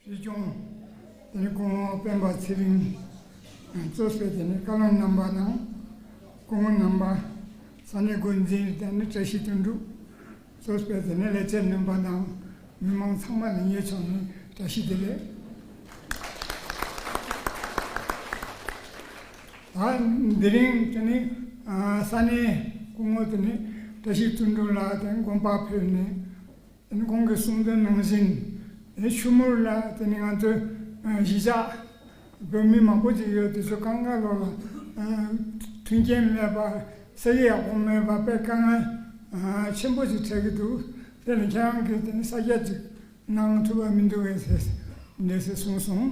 སྲིད་སྐྱོང་དེ་ནི་སྐུ་ངོ་སྤེན་པ་ཚེ་རིང་གཙོས་བྱས་ཏེ་ནི་བཀའ་བློན་རྣམ་པ་དང་སྐུ་ངོ་རྣམ་པ་ས་གནས་འགོ་འཛིན་དང་ནི་བཀྲ་ཤིས་དོན་གྲུབ་གཙོས་བྱས་ཏེ་ནི་ལས་བྱེད་རྣམ་པ་དང་མི་མང་ཚང་མ་ལ་ཉེ་ཆུང་ནི་བཀྲ་ཤིས་བདེ་ལེགས། ད་འདི་རིང་དེ་ནི་ས་གནས་སྐུ་ངོ་དེ་ནི་བཀྲ་ཤིས་དོན་གྲུབ་ལགས་དེ་དགོངས་པ་ཕེབས་ནས་གོང་གི་གསུང་དོན་ནང་བཞིན་དེ་ཆུ་མུར་ལ་དེ་ནི་ང་ཚོའི་གཞིས་ཆགས་བོད་མི་མང་པོ་ཅིག་ཡོད་དེ་ཚོས་དཀའ་ངལ་ལོག་ལ་མཐུན་རྐྱེན་མེད་པ་ཟས་རིགས་ཡག་པོ་མེད་པ་དཔེ་དཀའ་ངལ་ཆེན་པོ་ཅིག་འཕྲད་ཀྱི་འདུག་དེ་ལ་ཁྱེད་རང་གིས་དེ་ནི་ས་རྒྱ་ཅིག་གནང་ཐུབ་པ་མི་འདུག་གས་ཟེར་འདས་ཟེར་གསུངས་སོང།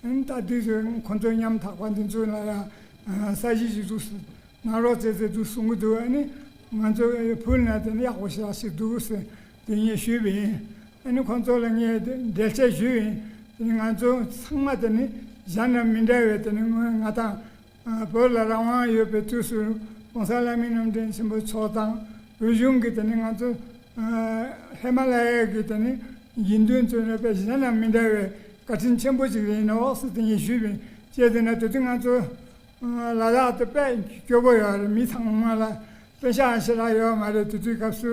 ད་དུས་ཚོད་ཁོང་ཚོས་ཉམ་ཐག་པ་འདི་ཚོ་ལ་ཡང་ས་གཞི་ཞིག་འཛུགས་སྲིད། ནག་རོག་རྩེད་རྩེད་དུ་སོང་གི་འདུག་ཨ་ནི། ང་ཚོས་བུ་ལྔ་དེ་ཡག་པོ་ཞིག་ལ་ཞིག་འདུག་གི་ཟེར་དེ་ངས་ཞུས་པ་ཡིན། ཨ་ནི་ཁོང་ཚོ་ལ་ངས་འགྲེལ་བཤད་ཞུས་ཡིན། དེ་ནི་ང་ཚོ་ཚང་མ་དེ་ནི་གཞན་རྣམས་མི་འདྲ་བའི་དེ་ནི་ང་དང་བོད་ལ་རང་དབང་ཡོད་པའི་དུས་སུ ྋགོང་ས ྋསྐྱབས་མགོན་རྣམ་གྲྭ་ཆེན་པོ་མཆོག་དང་བོད་གཞུང་གིས་དེ་ནི་ང་ཚོ་ཧི་མ་ལ་ཡ་གི་དེ་ནི་དགེ་འདུན་བཙོན་ར་བས་གཞན་དང་མི་འདྲ་བའི་བཀའ་དྲིན་ཆེན་པོ་ཅིག་རེད་ཡིན་ནའོ་ཟེར་དེ་ཉིད་ཞུས་པས་ཅད་དེ་ན་དེ་དུས་ང་ཚོ་ལ་ལ་དེ་པས་སྐྱོ་པོ་ཡོད་རེད་མི་ཚང་མ་ལ་བསྟན་བཤའང་ཞེ་དྲག་ཡོད་མ་རེད་དེ་དུས་སྐབས་སུ་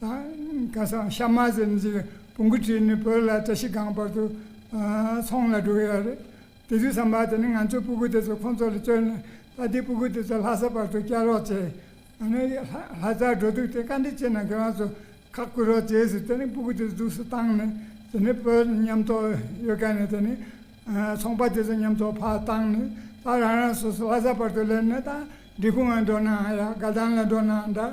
སྐལ་བཟང་ཤ་མ་ཟན་གྱི་བུ་མགུ་ཁྲིད་ནས་བོད་ལ་བཀྲ་ཤིས་སྒང་བར་དུ་ཚོང་ལ་འགྲོ་གི་ཡོད་རེད། དེ་དུས་བསམ་པ་དེ་ནི་ང་ཚོས་སྤུ་གུ་དེ་ཚོ་ཁོང་ཚོ་ལ་བསྐྱོན་ནས་ད་ལྟའི་སྤུ་གུ་དེ་ཚོ་ལྷ་ས་བར་དུ་བསྐྱལ་རོགས་བྱས། ཨ་ནི་ལྷ་སར་འགྲོ་དུས་དེ་བཀའ་འདྲི་བྱས་ན་ཁྱོད་རང་ཚོ་ཁག་བསྐུལ་རོགས་བྱས་ཟེར་དེ་ནས་སྤུ་གུ་དེ་ཚོ་འཛུགས་སུ་བཏང་ནས་དེ་ནས་བོད་མཉམ་ཐོག་ཡོད་དཀའ་ནས་དེ་ནས་ཚོང་པ་དེ་ཚོ་མཉམ་ཐོག་ཕར་བཏང་ནས་ད་རང་རང་སོ་སོ་ལྷ་ས་བར་དུ་སླེབས་ནས་ད་འབྲི་གུང་ལ་འགྲོ་ནའང་ཡག་དགའ་ལྡན་ལ་འགྲོ་ནའང་འདྲ།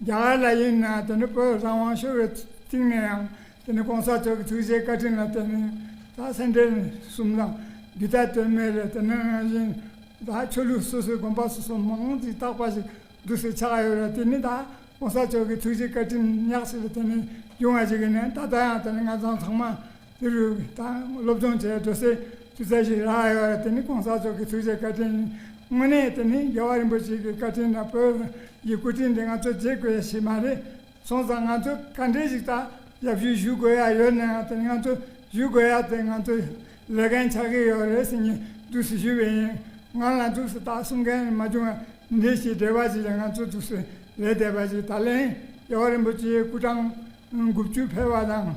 རྒྱ་གར་ལ་ཡིན་ན་དེ་ནི་བོད་བཟང་དབང་ཤོར་བའི་སྟེང་ནས་ཡང་དེ་ནི་གོང་ས་མཆོག་གི་ཐུགས་རྗེའི་བཀའ་དྲིན་ལ་བརྟེན་ནས་ད་སེམས་ཁྲལ་གསུམ་དང་སྒྱུ་རྟ་དོན་མེད་རེད་དེ་ནི་རང་བཞིན་ད་ཆོས་ལུགས་སོ་སོའི་དགོངས་པ་སོ་སོ་མང་ཙམ་གྱིས་བཏགས་པ་ཞིག་འདུག་ཟེར་ཆགས་ཡོད་རེད་དེ་ནི་ད་གོང་ས་མཆོག་གི་ཐུགས་རྗེའི་བཀའ་དྲིན་ཉག་ཅིག་རེད་དེ་ནི་རྒྱུ་མངའ་ཅིག་ཡིན་ན་ད་ལྟ་ཡང་དེ་ནི་ང་ཚང་ཚང་མ་དེ་རུ་སློབ་སྦྱོང་བྱས་འགྲོ་སའི་ཆུ་ཚད་ཞིག་རག་ཡོད་རེད་དེ་ནི ྋགོང་ས་མཆོག་གི་ཐུགས་རྗེ་བཀའ་དྲིན་ཡིན། དངོས་གནས་དེ་ནི་རྒྱལ་བ་རིན་པོ་ཆེ་གི་བཀའ་དྲིན་དང་བོད་ཀྱི་སྐུ་དྲིན་དེ་ང་ཚོས་བརྗེད་དགོས་ཡ་ཞིག་མ་རེད། སོང་ཙང་ང་ཚོས་ག་འདྲའི་ཞིག་ད་ཡབ་ཞུས་ཞུ་དགོས་ཡ་ཡོད་ནའང་དེ་ནི་ང་ཚོས་ཞུས་དགོས་ཡ་དེ་ང་ཚོས་ལས་མཁན་ཆགས་ཀྱི་ཡོད་རེད་ཟེར་ཉིན་འཛུགས་སུ་ཞུས་པས་ཡིན། ང་ལ་འཛུགས་སུ་ད་གསུང་མཁན་མ་བྱུང་ཡ་འདི་ཞིག་འབྲེལ་བ་ཞིག་ཡ་ང་ཚོས་འཛུགས་སུ་ལས་བསྡད་པ་ཞིག་ད་ལན་རྒྱལ་བ་རིན་པོ་ཆེའི་སྐུ་གྲངས་དགུ་བཅུ་འཕེལ་བ་དང།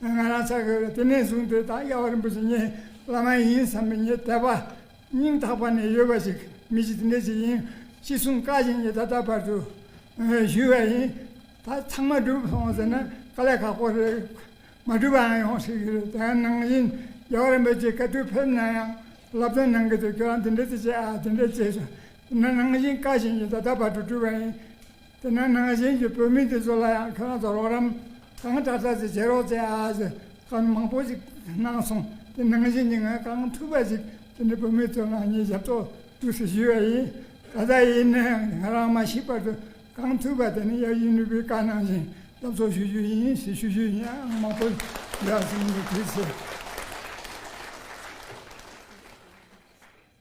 ང་རང་ཚ་གས་པས་དེ་ནས་བཟུང་དེ་ལྟར་དབྱེ་བ་རིན་པོ་ཆེ་ངའི་བླ་མ་ཡིན་བསམ་པའི་ངའི་དད་པ། སྙིང་ཐག་པ་ནས་ཡོད་པ་ཞིག་མི་ཞིག་དེ་འདྲ་ཞིག་ཡིན་ཅི་གསུང་བཀའ་བཞིན་ངས་ད་ལྟ་བར་དུ་ཞུས་པ་ཡིན། ད་ཚང་མ་འགྲུབ་སོང་ཟེར་ན་དཀའ་ལས་ཁག་པོ་རེད། མ་འགྲུབ་པའང་ཡོང་སྲིད་ཀྱི་རེད་དེའང་ནང་བཞིན་རྒྱལ་བ་རིན་པོ་ཆེས་བཀའ་ཁྲོལ་ཕེབས་ན་ཡང་བསླབ་སྟོན་གནང་གི་འདུག་ཁྱོད་རང་དེ་འདྲ་དེ་བྱས་ཨ་དེ་འདྲ་བྱས་ཟེར་ན་ནང་བཞིན་བཀའ་བཞིན་ངས་ད་ལྟ་བར་དུ་བསྒྲུབས་པ་ཡིན། དེ་ན་ནང་བཞིན་གྱི་བོད་མི་དེ་ཚོ་ལ་ཡང་ཁྱོད་རང་ཚོ་རོགས་རམ་གང་འདྲ་འདྲ་ཅིག་བྱེད་རོགས་ཅེས་ཨ་ཨ་ཅེས་ཧྥ་མི་མང་པོ་ཞིག་གནང་སོང་དེ་ནང་བཞིན་གྱི་ངས་གང་ཐུབ་པ་ཞིག་དེ་འདྲའི་བོད་མི་ཚོའི་ནང་བཞིན་ཞབས་ཏོག་ཏུ་ཞུས་པ་ཡིན། ད་ལྟ་ཡིན་ནས་ང་རང་མ་ཤི་བར་དུ་གང་ཐུབ་པ་དེ་ནི་ཡབ་ཡུམ་ནུས་པའི་བཀའ་གནང་བཞིན་སློབ་ཚོགས་ཞུ་རྒྱུ་ཡིན་ཞེས་ཞུ་རྒྱུ་ཡིན་ཨང་མང་པོ་ཡོད་ཨ་ཟེར་ནས་དེ་ཚོས།